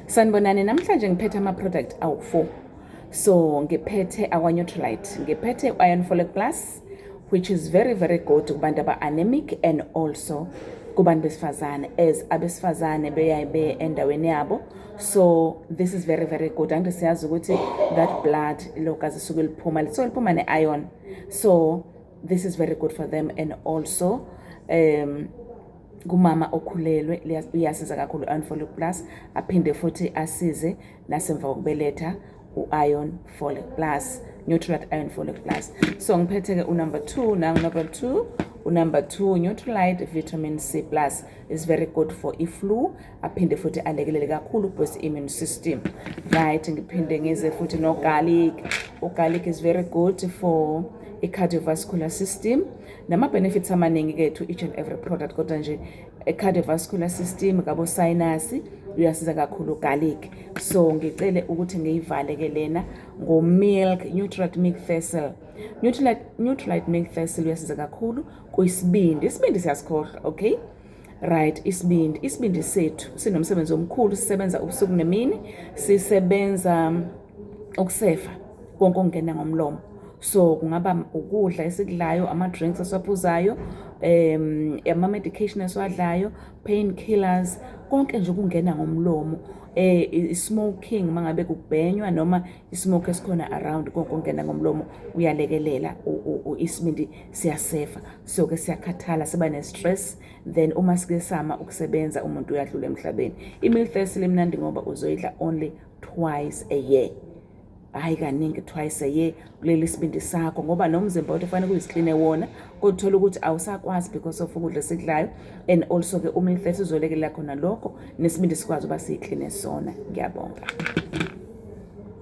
sanibonani namhlanje ngiphethe ama-product awu-four so ngiphethe akwa-neutralite ngiphethe u-iron folic plus which is very very good kubantu aba-anemic and also kubantu besifazane as abesifazane beyaye beye endaweni yabo so this is very very good angithi siyazi ukuthi that blood logazi suke liphuma lisuke liphuma ne-iron so this is very good for them and also um kumama okhulelwe iyasiza kakhulu i-iron folic plus aphinde futhi asize nasemva kokubeletha u-iron folic plus neutralite iron folic plus so ngiphethe-ke unumber two nangunumber two unumber two neutralite vitamin c plus is very good for i-flu aphinde futhi alekelele kakhulu boost immune system right ngiphinde ngize futhi nogarlic ugarlic is very good for i-cardiovascular system nama-benefits amaningi kethu each and every product kodwa nje e-cardiovascular system kabosinasi uyasiza kakhulu garlic so ngicele ukuthi ngiyivale ke lena ngo-milk nutrat milk thistle nutrat milk thistle uyasiza kakhulu kuyisibindi isibindi siyasikhohlwa okay right isibindi isibindi sethu sinomsebenzi omkhulu sisebenza ubusuku nemini sisebenza um, ukusefa konke okungena ngomlomo so kungaba ukudla esikudlayo ama-drinks esiwaphuzayo um ama-medication esiwadlayo pain killers konke nje ukungena ngomlomo eh i-smoking mangabe kubhenywa noma i-smoke esikhona around konke ongena ngomlomo uyalekelela isibindi siyasefa so ke siyakhathala siba ne-stress then uma sikesama ukusebenza umuntu uyadlula emhlabeni i-milfest limnandi ngoba uzoyidla only twice a year hayi kaningi twice a year kuleli sibindi sakho ngoba nomzimba wethu fanele kuyisicline wona kodwa uthola ukuthi awusakwazi because of ukudla esikudlayo and also ke uma ifesi izolekelela khona lokho nesibindi sikwazi uba siyicline sona ngiyabonga